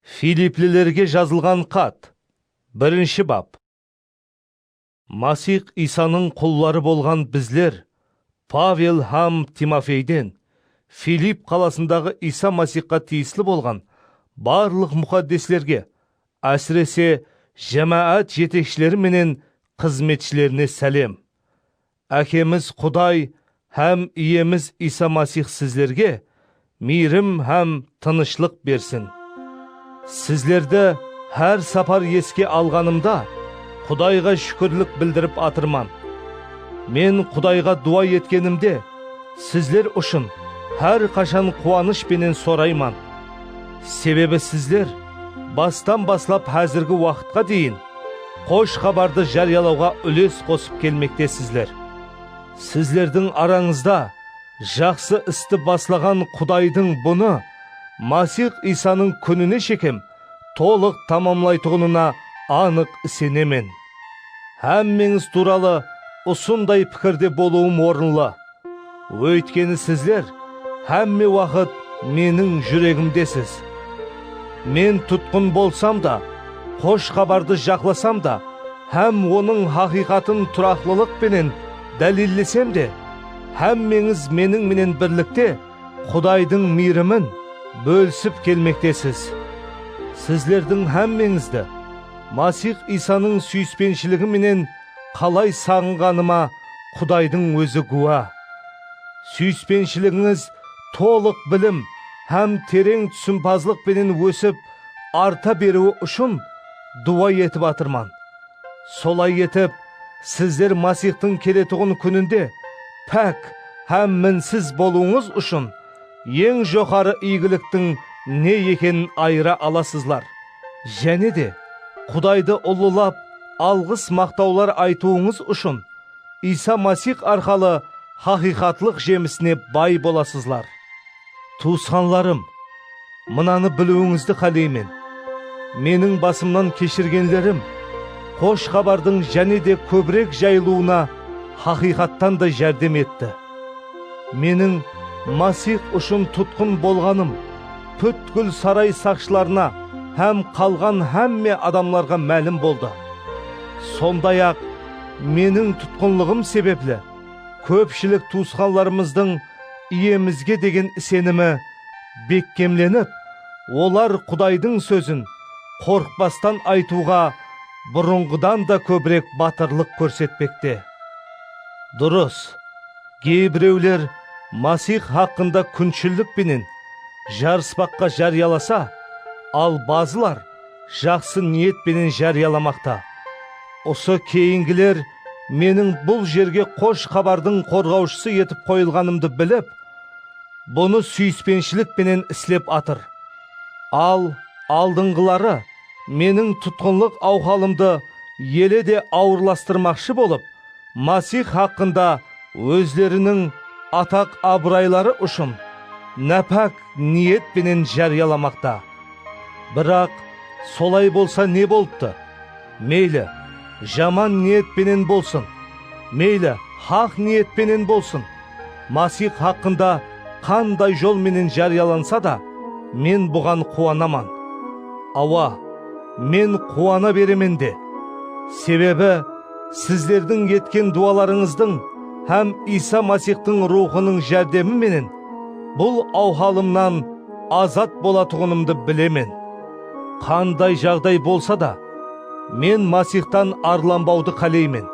Filiplilerge jazılǵan xat, birinshi bap. Masix Iysanıń qulları bolǵan bizler Pavel hám Timofeyden, Filip qalasındaǵı Iysa Masixqa tiyisli bolǵan barlıq muxaddeslerge, ásirese, jámáát jetekshileri menen xızmetshilerine sálem. Ákemiz Quday hám Iyemiz Iysa Masix sizlerge miyrim hám tınıshlıq bersin. Sizlerdi hár sapar eske alǵanımda, Qudayǵa shúkirlik bildirip atırman. Men Qudayǵa duwa etkenimde, sizler ushın hár qashan quwanısh penen sorayman. Sebebi sizler bastan baslap házirgi waqıtqa deyin Xosh xabardı járiyalawǵa úles qosıp kelmektesizler. Sizlerdiń arańızda jaqsı isti baslaǵan Qudaydıń bunı Masix Iysanıń kúnine shekem tolıq tamamlaytuǵınına anıq isenemen. Hámmeńiz tuwralı usınday pikirde bolıwım orınlı. Óytkeni sizler hámme waqıt Meniń júregimdesiz. Men tutqın bolsam da, Xosh Xabardı jaqlasam da hám Onıń haqıyqatın turaqlılıq penen dálillesem de, hámmeńiz Meniń menen birlikte Qudaydıń miyrimin bólisip kelmektesiz. Sizlerdiń hámmeńizdi Masix Iysanıń súyispenshiligı menen Qalay saǵınǵanıma Qudaydıń ózi gúwa. Súyispenshiliginiz tolıq bilim hám tereń túsimpazlıq penen ósip, arta beriwi ushın duwa etip atırman. Solay etip, sizler Masixtıń keletuǵın kúninde pák hám minsiz bolıwıńız ushın eń joqarı iygiliktiń ne ekenin ayıra alasızlar. jáne de Qudaydı ullılap, alǵıs-maqtawlar aytıwıńız ushın Iysa Masix arqalı haqıyqatlıq jemisine bay bolasızlar. Tuwısqanlarım, mınanı biliwińizdi qáleymen, meniń basımnan keshirgenlerim Xosh Xabardıń jáne de kóbirek jayılıwına haqıyqattan da járdem etti. Meniń Masix ushın tutqın bolǵanım pútkil saray saqshılarına hám qalǵan hámme adamlarǵa málim boldı. Sonday-aq, meniń tutqınlıǵım sebepli kópshilik tuwısqanlarımızdıń Iyemizge degen isenimi bekkemlenip, olar Qudaydıń sózin qorqpastan aytıwǵa burınǵıdan da kóbirek batırlıq kórsetpekte. Durıs, geybirewler Masix haqqında kúnshillik penen jarıspaqqa járiyalasa, al bazılar jaqsı niyet penen járiyalamaqta. Usı keyingiler meniń bul jerge Xosh Xabardıń qorǵawshısı etip qoyılǵanımdı bilip, bunı súyispenshilik penen islep atır. Al aldınǵıları Meniń tutqınlıq awhalımdı ele de awırlastırmaqshı bolıp, Masix haqqında ózleriniń ataq-abırayları ushın nápák niyet penen járiyalamaqta. Biraq, solay bolsa ne bolıptı? Meyli, jaman niyet penen bolsın, meyli, haq niyet penen bolsın, Masix haqqında qanday jol menen járiyalansa da, men buǵan quwanaman. Awa, men quwana beremen de! Sebebi, sizlerdiń etken duwalarıńızdıń hám Iysa Masixtıń Ruwxınıń járdemi menen bul awhalımnan azat bolatuǵınımdı bilemen. Qanday jaǵday bolsa da, men Masixtan arlanbawdı qáleymen.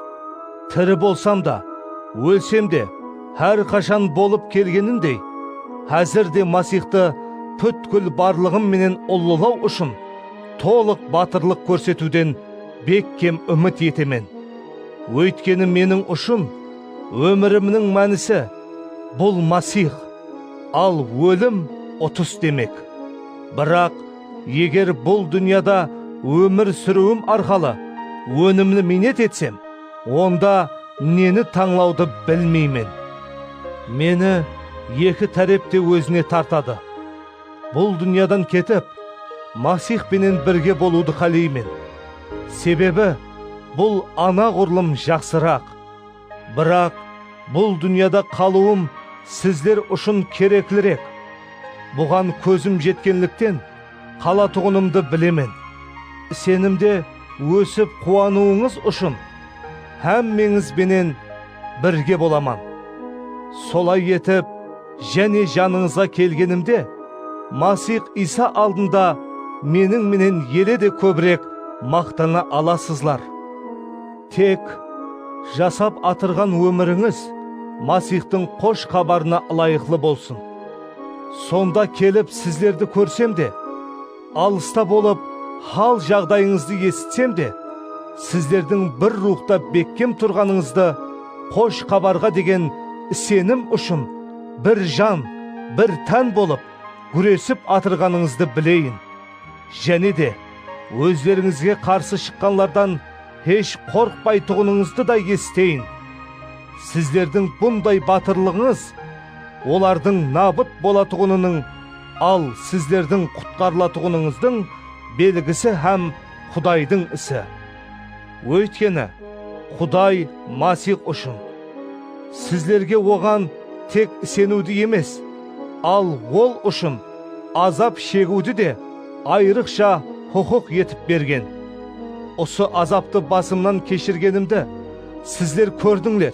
Tiri bolsam da, ólsem de, hár qashan bolıp kelgenindey, házir de Masixtı pútkil barlıǵım menen ullalaw ushın tolıq batırlıq kórsetiwden bekkem úmit etemen. Óytkeni meniń ushın ómirimniń mánisi, bul Masix, al ólim, utıs demek. Biraq, Eger bul dúnyada ómir súriwim arqalı ónimli miynet etsem, onda neni tańlawdı bilmeymen. Meni eki tárep te ózine tartadı. Bul dúnyadan ketip, Masix penen birge bolıwdı qáleymen. Sebebi bul anaǵurlım jaqsıraq. Biraq, bul dúnyada qalıwım sizler ushın kereklirek. Buǵan kózim jetkenlikten, qalatuǵınımdı bilemen. Isenimde ósip quwanıwıńız ushın, hámmeńiz benen birge bolaman. Solay etip, jáne janıńızǵa kelgenimde, Masix Iysa aldında meniń menen ele de kóbirek maqtana alasızlar. Tek, jasap atırǵan ómirińiz Masixtıń Xosh Xabarına ılayıqlı bolsın. Sonda kelip sizlerdi kórsem de, alısta bolıp hal-jaǵdayıńızdı esitsem de, sizlerdiń bir ruwxta bekkem turǵanıńızdı, Xosh Xabarǵa degen isenim ushın bir jan, bir tán bolıp gúresip atırǵanıńızdı bileyin. Jáne de, ózlerińizge qarsı shıqqanlardan, Hesh qorqpaytuǵınıńızdı da esiteyin. Sizlerdiń bunday batırlıǵıńız olardıń nabıt bolatuǵınınıń, al sizlerdiń qutqarılatuǵınıńızdıń belgisi hám Qudaydıń isi. Óytkeni, Quday Masix ushın, sizlerge Oǵan tek iseniwdi emes, al Ol ushın azap shegiwdi de ayrıqsha huqıq etip bergen. Usı azaptı basımnan keshirgenimdi sizler kórdińler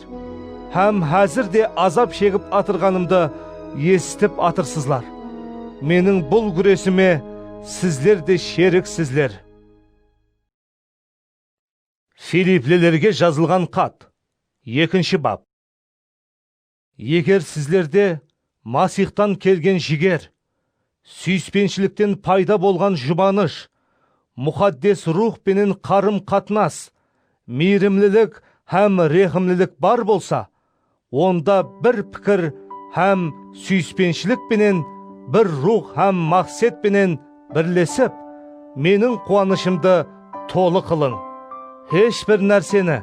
hám házir de azap shegip atırǵanımdı esitip atırsızlar. Meniń bul gúresime sizler de sheriksizler. Filiplilerge jazılǵan xat, ekinshi bap. Eger sizlerde Masixtan kelgen jiger, súyispenshilikten payda bolǵan jubanısh, Muxaddes Ruwx penen qarım-qatnas, miyrimlilik hám rehimlilik bar bolsa, onda bir pikir hám súyispenshilik penen, bir ruwx hám maqset penen birlesip, meniń quwanıshımdı tolı qılıń. Hesh bir nárseni,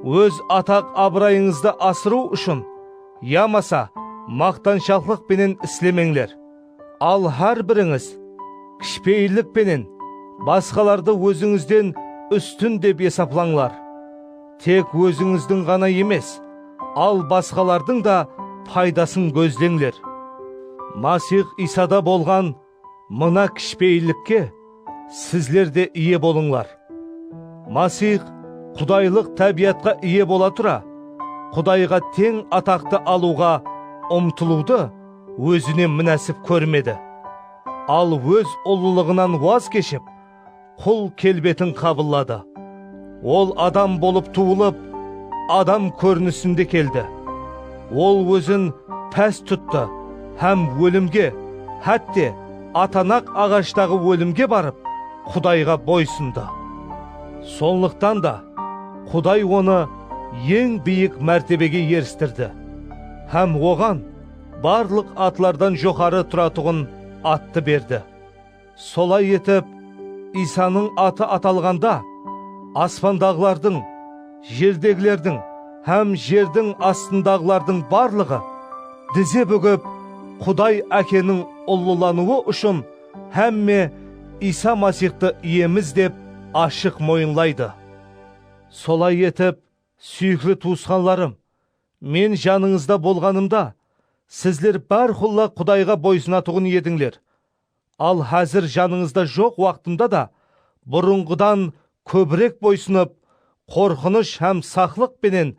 óz ataq-abırayıńızdı asırıw ushın yamasa maqtanshaqlıq penen islemeńler. Al hár birińiz kishipeyillik penen basqalardı ózińizden ústin dep esaplańlar. Tek ózińizdiń ǵana emes, al basqalardıń da paydasın gózleńler. Masix Iysada bolǵan Mına kishipeyillikke sizler de iye bolıńlar. Masix qudaylıq tábiyatqa iye bola tura, Qudayǵa teń ataqtı alıwǵa umtılıwdı ózine múnásip kórmedi, al óz ullılıǵınan waz keship, Qul kelbetin qabılladı. Ol adam bolıp tuwılıp, adam kórinisinde keldi. Ol ózin pás tuttı hám ólimge, hátte, atanaq aǵashtaǵı ólimge barıp, Qudayǵa boy sındı. Sonlıqtan da, Quday onı eń biyik mártebege eristirdi hám oǵan barlıq atlardan joqarı turatuǵın attı berdi. Solay etip, Iysanıń atı atalǵanda, aspandaǵılardıń, jerdegilerdiń hám jerdiń astındaǵılardıń barlıǵı dize búgip, Quday Ákeniń ullılanıwı ushın hámme Iysa Masixtı Iyemiz dep ashıq moyınlaydı. Solay etip, súyikli tuwısqanlarım, men janıńızda bolǵanımda, sizler bárqulla Qudayǵa boysınatuǵın edińler, Al házir janıńızda joq waqtımda da burınǵıdan kóbirek boysınıp, qorqınısh hám saqlıq penen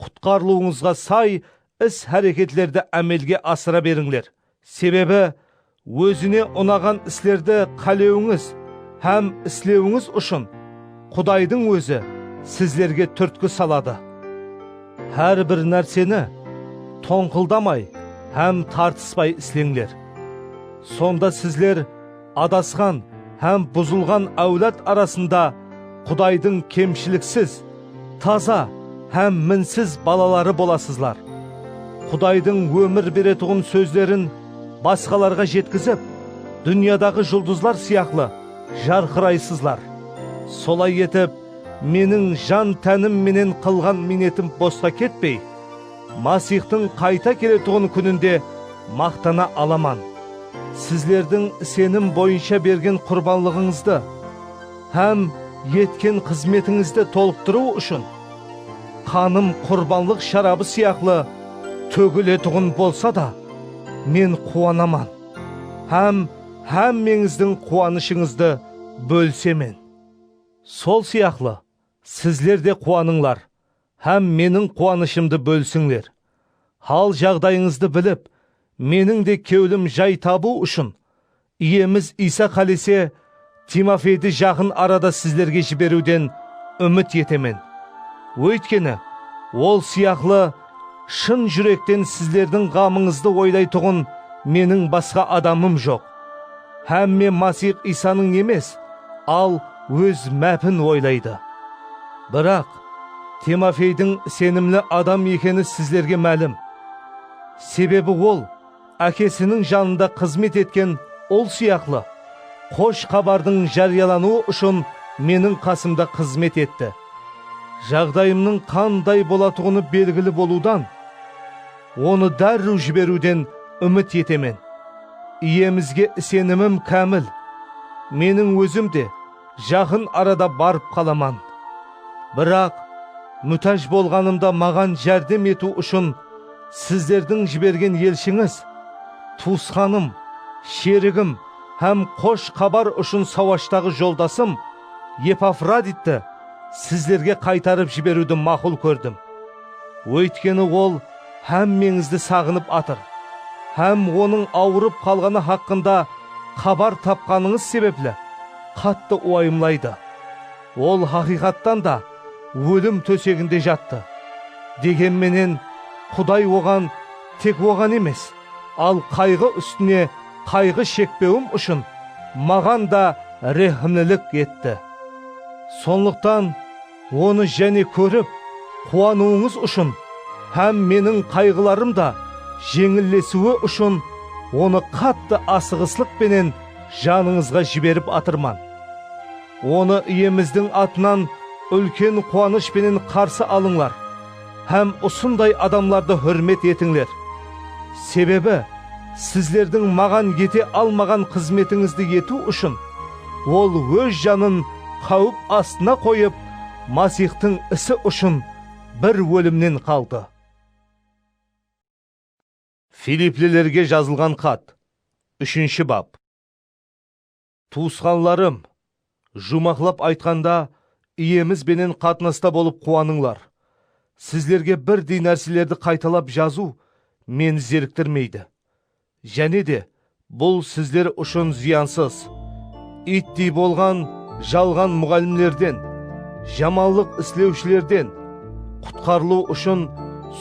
qutqarılıwıńızǵa say is-háreketlerdi ámelge asıra berińler. Sebebi, ózine unaǵan islerdi qálewińiz hám islewińiz ushın Qudaydıń Ózi sizlerge túrtki saladı. Hár bir nárseni tońqıldamay hám tartıspay isleńler. Sonda sizler adasqan hám buzılǵan áwlad arasında Qudaydıń kemshiliksiz, taza hám minsiz balaları bolasızlar. Qudaydıń ómir beretuǵın sózlerin basqalarǵa jetkizip, dúnyadaǵı juldızlar sıyaqlı jarqıraysızlar. Solay etip, Meniń jan-tánim menen qılǵan miynetim bosqa ketpey, Masixtıń qayta keletuǵın kúninde maqtana alaman. Sizlerdiń isenim boyınsha bergen qurbanlıǵıńızdı hám etken xızmetińizdi tolıqtırıw ushın, qanım qurbanlıq sharabı sıyaqlı tógiletuǵın bolsa da, men quwanaman hám hámmeńizdiń quwanıshıńızdı bólisemen. Sol sıyaqlı, sizler de quwanıńlar hám meniń quwanıshımdı bólisińler. Hal-jaǵdayıńızdı bilip, meniń de kewlim jay tabıw ushın, Iyemiz Iysa qálese, Timofeydi jaqın arada sizlerge jiberiwden úmit etemen. Óytkeni, ol sıyaqlı Shın júrekten sizlerdiń ǵamıńızdı oylaytuǵın meniń basqa adamım joq. Hámme Masix Iysanıń emes, al, óz mápin oylaydı. Biraq, Timofeydiń isenimli adam ekeni sizlerge málim. Sebebi ol, Ákesiniń janında xızmet etken ul sıyaqlı, xosh xabardıń járiyalanıwı ushın meniń qasımda xızmet etti. Jaǵdayımnıń qanday bolatuǵını belgili bolıwdan, onı dárriw jiberiwden úmit etemen. Iyemizge isenimim kámil. Meniń ózim de. Jaqın arada barıp qalaman. Biraq, mútáj bolǵanımda maǵan járdem etiw ushın sizlerdiń jibergen elshińiz, tuwısqanım, sherigim hám Xosh Xabar ushın sawashtaǵı joldasım Epafroditti sizlerge qaytarıp jiberiwdi maqul kórdim. Óytkeni ol hámmeńizdi saǵınıp atır hám onıń awırıp qalǵanı haqqında xabar tapqanıńız sebepli qattı uwayımlaydı. Ol haqıyqattan da ólim tóseginde jattı. Degen menen, Quday oǵan tek oǵan emes, al qayǵı ústine qayǵı shekpewim ushın maǵan da rehimlilik etti. Sonlıqtan, Onı jáne kórip, quwanıwıńız ushın hám meniń qayǵılarım da jeńillesiwi ushın onı qattı asıǵıslıq penen janıńızǵa jiberip atırman. Onı Iyemizdiń atınan úlken quwanısh penen qarsı alıńlar. Hám usınday adamlardı húrmet etińler. Sebebi, sizlerdiń Maǵan ete almaǵan xızmetińizdi etiw ushın Ol Óz janın qáwip astına qoyıp, Masixtıń isi ushın bir ólimnen qaldı. Filiplilerge jazılǵan xat, úshinshi bap. Tuwısqanlarım, juwmaqlap aytqanda, Iyemiz benen qatnasta bolıp quwanıńlar. Sizlerge birdey nárselerdi qaytalap jazıw meni zeriktirmeydi. Jáne de, bul sizler ushın zıyansız. Ittey bolǵan jalǵan muǵallimlerden, jamanlıq islewshilerden, qutqarılıw ushın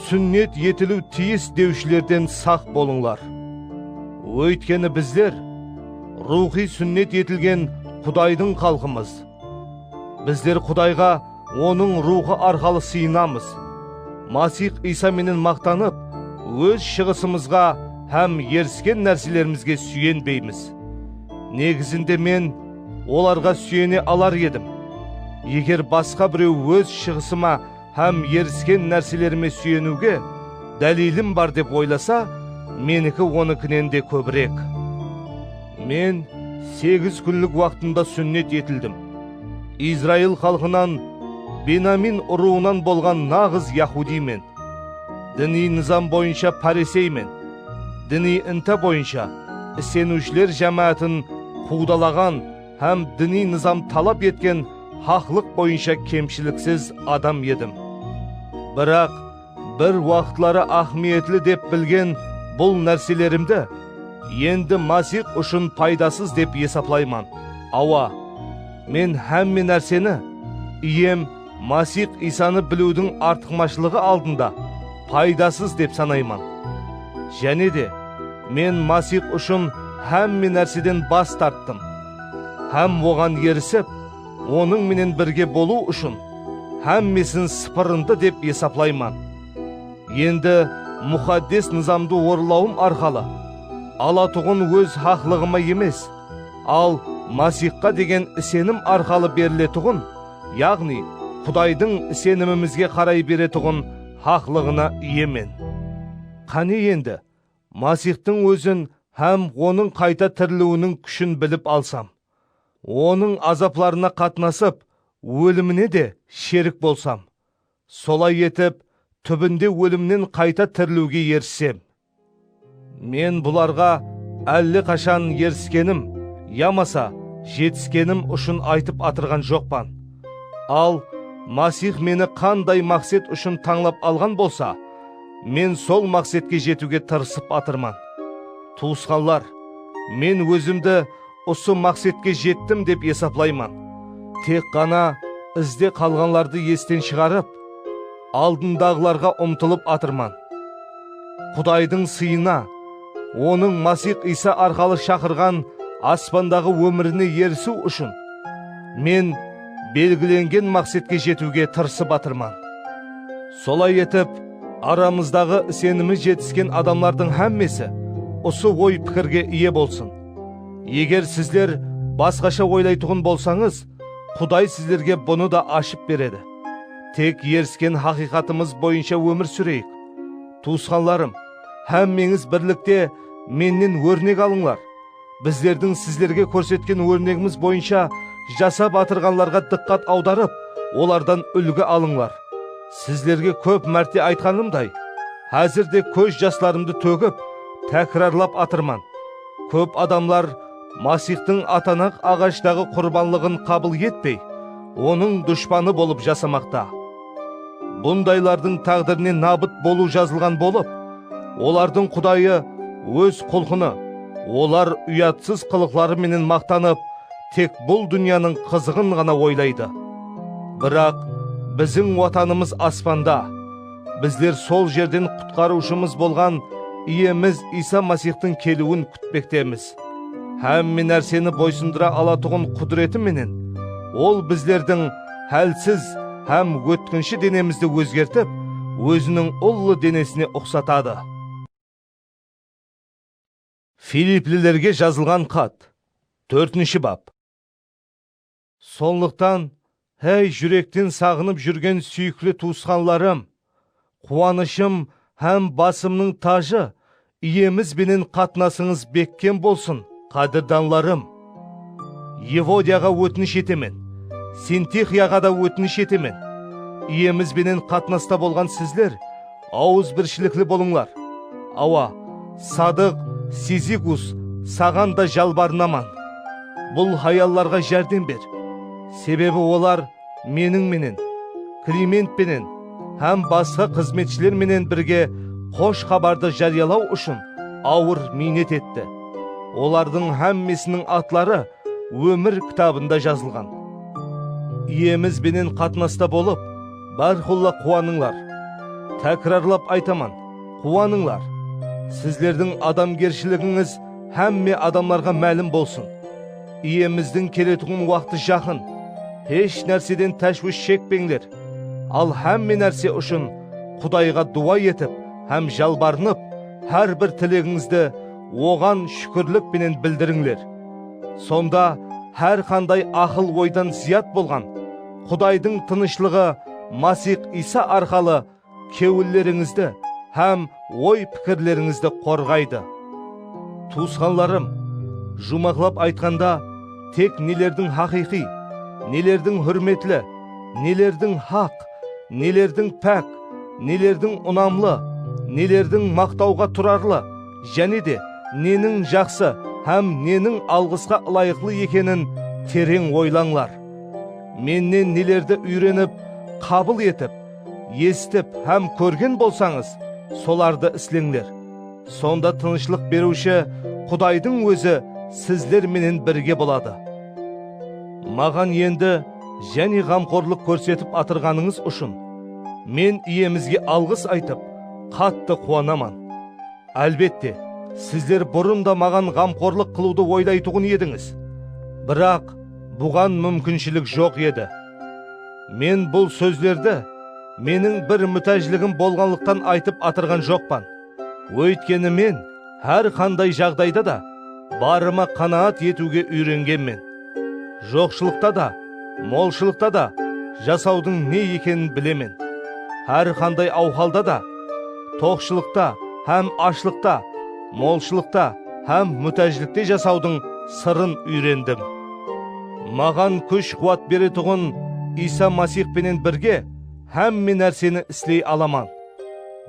súnnet etiliw tiyis dewshilerden saq bolıńlar. Óytkeni bizler. Ruwxıy súnnet etilgen Qudaydıń xalqımız. Bizler Qudayǵa Onıń Ruwxı arqalı sıyınamız. Masix Iysa menen maqtanıp, óz shıǵısımızǵa hám erisken nárselerimizge súyenbeymiz. Negizinde men olarǵa súyene alar edim, eger basqa birew óz shıǵısıma Hám erisken nárselerime súyeniwge dálilim bar dep oylasa, meniki onikinen de kóbirek. Men segiz kúnlik waqtımda súnnet etildim. Izrail xalqınan, Benamin urıwınan bolǵan naǵız yahudiymen. Diniy nızam boyınsha pariseymen. Diniy inta boyınsha iseniwshiler jámáátin quwdalaǵan, hám diniy nızam talap etken haqlıq boyınsha kemshiliksiz adam edim. Biraq, bir waqıtları áhmiyetli dep bilgen bul nárselerimdi endi Masix ushın paydasız dep esaplayman. Awa, men hámme nárseni Iyem Masix Iysanı biliwdiń artıqmashılıǵı aldında paydasız dep sanayman. Jáne de, men Masix ushın hámme nárseden bas tarttım hám Oǵan erisip, Onıń menen birge bolıw ushın hámmesin sıpırındı dep esaplayman. Endi Muxaddes Nızamdı orınlawım arqalı alatuǵın óz haqlıǵıma emes, al Masixqa degen isenim arqalı beriletuǵın Yaǵnıy, Qudaydıń isenimimizge qaray beretuǵın haqlıǵına iyemen. Qáne endi, Masixtıń Ózin hám Onıń qayta tiriliwiniń kúshin bilip alsam, Onıń azaplarına qatnasıp, ólimine de sherik bolsam! Solay etip, túbinde ólimnen qayta tirilewge erisem. Men bularǵa álle qashan eriskenim yamasa jetiskenim ushın aytıp atırǵan joqpan. Al, Masix meni qanday maqset ushın tańlap alǵan bolsa, men sol maqsetke jetiwge tırısıp atırman. Tuwısqanlar, men ózimdi Usı maqsetke jettim dep esaplayman. Tek ǵana izde qalǵanlardı esten shıǵarıp, aldındaǵılarǵa umtılıp atırman. Qudaydıń sıyına, Onıń Masix Iysa arqalı shaqırǵan aspandaǵı ómirine erisiw ushın, men belgilengen maqsetke jetiwge tırısıp atırman. Solay etip, aramızdaǵı isenimi jetisken adamlardıń hámmesi usı oy-pikirge iye bolsın. Eger sizler basqasha oylaytuǵın bolsańız, Quday sizlerge bunı da ashıp beredi. Tek erisken haqıyqatımız boyınsha ómir súreyik. Tuwısqanlarım, hámmeńiz birlikte mennen órnek alıńlar. Bizlerdiń sizlerge kórsetken órnegimiz boyınsha jasap atırǵanlarǵa dıqqat awdarıp, olardan úlgi alıńlar. Sizlerge kóp márte aytqanımday, házir de kóz jaslarımdı tógip, tákirarlap atırman, kóp adamlar Masixtıń atanaq aǵashtaǵı qurbanlıǵın qabıl etpey, Onıń dushpanı bolıp jasamaqta. Bundaylardıń táǵdirine nabıt bolıw jazılǵan bolıp, olardıń qudayı, óz qulqını, olar uyatsız qılıqları menen maqtanıp, tek bul dúnyanıń qızıǵın ǵana oylaydı. Biraq, biziń Watanımız aspanda, bizler sol jerden Qutqarıwshımız bolǵan Iyemiz Iysa Masixtıń keliwin kútpektemiz. Hámme nárseni boysındıra alatuǵın qúdireti menen Ol bizlerdiń hálsiz hám ótkinshi denemizdi ózgertip, Óziniń ullı denesine uqsatadı. Filiplilerge jazılǵan xat, tórtinshi bap. Sonlıqtan, háy, júrekten saǵınıp júrgen súyikli tuwısqanlarım, quwanıshım hám basımnıń tajı, Iyemiz benen qatnasıńız bekkem bolsın, qádirdanlarım! Evodiyaǵa ótinish etemen, Sintixıyaǵa da ótinish etemen, Iyemiz benen qatnasta bolǵan sizler awızbirshilikli bolıńlar, awa, Sadıq, Sizikus, saǵan da jalbarınaman, bul hayallarǵa járdem ber, sebebi olar, Meniń menen, Kliment penen hám basqa xızmetshiler menen birge Xosh Xabardı járiyalaw ushın awır miynet etti. Olardıń hámmesiniń atları Ómir kitabında jazılǵan. Iyemiz benen qatnasta bolıp, bárqulla quwanıńlar. Tákirarlap aytaman, quwanıńlar! Sizlerdiń adamgershiligińiz hámme adamlarǵa málim bolsın! Iyemizdiń keletuǵın waqtı jaqın. Hesh nárseden táshwish shekpeńler, al hámme nárse ushın Qudayǵa duwa etip hám jalbarınıp, hár bir tilegińizdi Oǵan shúkirlik penen bildirińler. Sonda hár qanday aqıl-oydan zıyat bolǵan Qudaydıń tınıshlıǵı Masix Iysa arqalı Kewillerińizdi hám oy-pikirlerińizdi qorǵaydı. Tuwısqanlarım, juwmaqlap aytqanda, tek nelerdiń haqıyqıy, nelerdiń húrmetli, nelerdiń haq, nelerdiń pák, nelerdiń unamlı, nelerdiń maqtawǵa turarlı, jáne de neniń jaqsı hám neniń alǵısqa ılayıqlı ekenin tereń oylańlar. Mennen nelerdi úyrenip, qabıl etip, Esitip hám kórgen bolsańız, solardı isleńler. Sonda tınıshlıq beriwshi Qudaydıń Ózi sizler menen birge boladı. Maǵan endi jáne ǵamqorlıq kórsetip atırǵanıńız ushın, men Iyemizge alǵıs aytıp, qattı quwanaman. Álbette, sizler burın da maǵan ǵamqorlıq qılıwdı oylaytuǵın edińiz, biraq buǵan múmkinshilik joq edi. Men bul sózlerdi meniń bir mútájligim bolǵanlıqtan aytıp atırǵan joqpan. Óytkeni men hár qanday jaǵdayda da barıma qanaat etiwge úyrengenmen. Joqshılıqta da, molshılıqta da jasawdıń ne ekenin bilemen. Hár qanday awhalda da, toqshılıqta hám ashlıqta, molshılıqta hám mútájlikte jasawdıń sırın úyrendim. Maǵan kúsh-quwat beretuǵın Iysa Masix penen birge hámme nárseni isley alaman.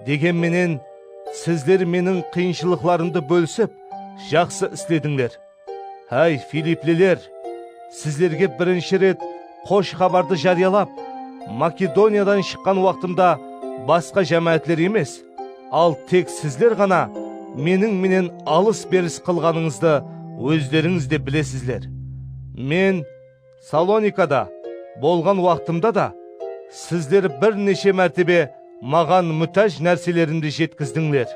Degen menen, sizler meniń qıyınshılıqlarımdı bólisip, jaqsı isledińler. Háy, filipliler! Sizlerge birinshi ret Xosh Xabardı járiyalap, Makedoniyadan shıqqan waqtımda basqa jámáátler emes, Al tek sizler ǵana Meniń menen alıs-beris qılǵanıńızdı ózlerińiz de bilesizler. Men Salonikada bolǵan waqtımda da sizler bir neshe mártebe Maǵan mútáj nárselerimdi jetkizdińler.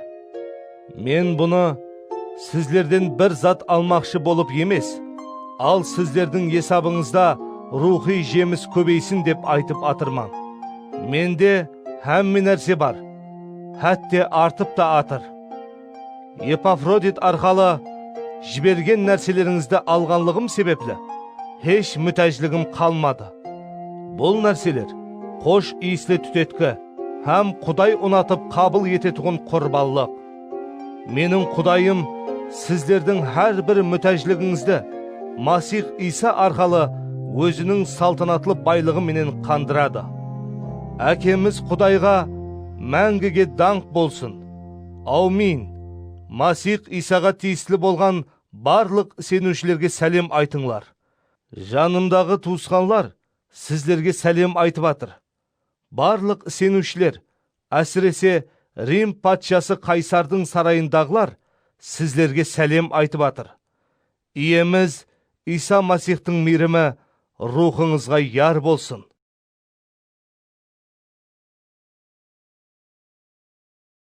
Men bunı sizlerden bir zat almaqshı bolıp emes, al sizlerdiń esabıńızda ruwxıy jemis kóbeysin dep aytıp atırman. Mende, Hámme nárse bar, hátte artıp ta atır. Epafrodit arqalı jibergen nárselerińizdi alǵanlıǵım sebepli hesh mútájligim qalmadı. Bul nárseler xosh iyisli tútetki hám Quday unatıp qabıl etetuǵın qurbanlıq. Meniń Qudayım sizlerdiń hár bir mútájligińizdi Masix Iysa arqalı Óziniń saltanatlı baylıǵı menen qandıradı. Ákemiz Qudayǵa máńgige dańq bolsın! Awmin! Masix Iysaǵa tiyisli bolǵan barlıq iseniwshilerge sálem aytıńlar. Janımdaǵı tuwısqanlar sizlerge sálem aytıp atır. Barlıq iseniwshiler, ásirese, Rim patshası Qaysardıń sarayındaǵılar sizlerge sálem aytıp atır. Iyemiz Iysa Masixtıń miyrimi ruwxıńızǵa yar bolsın!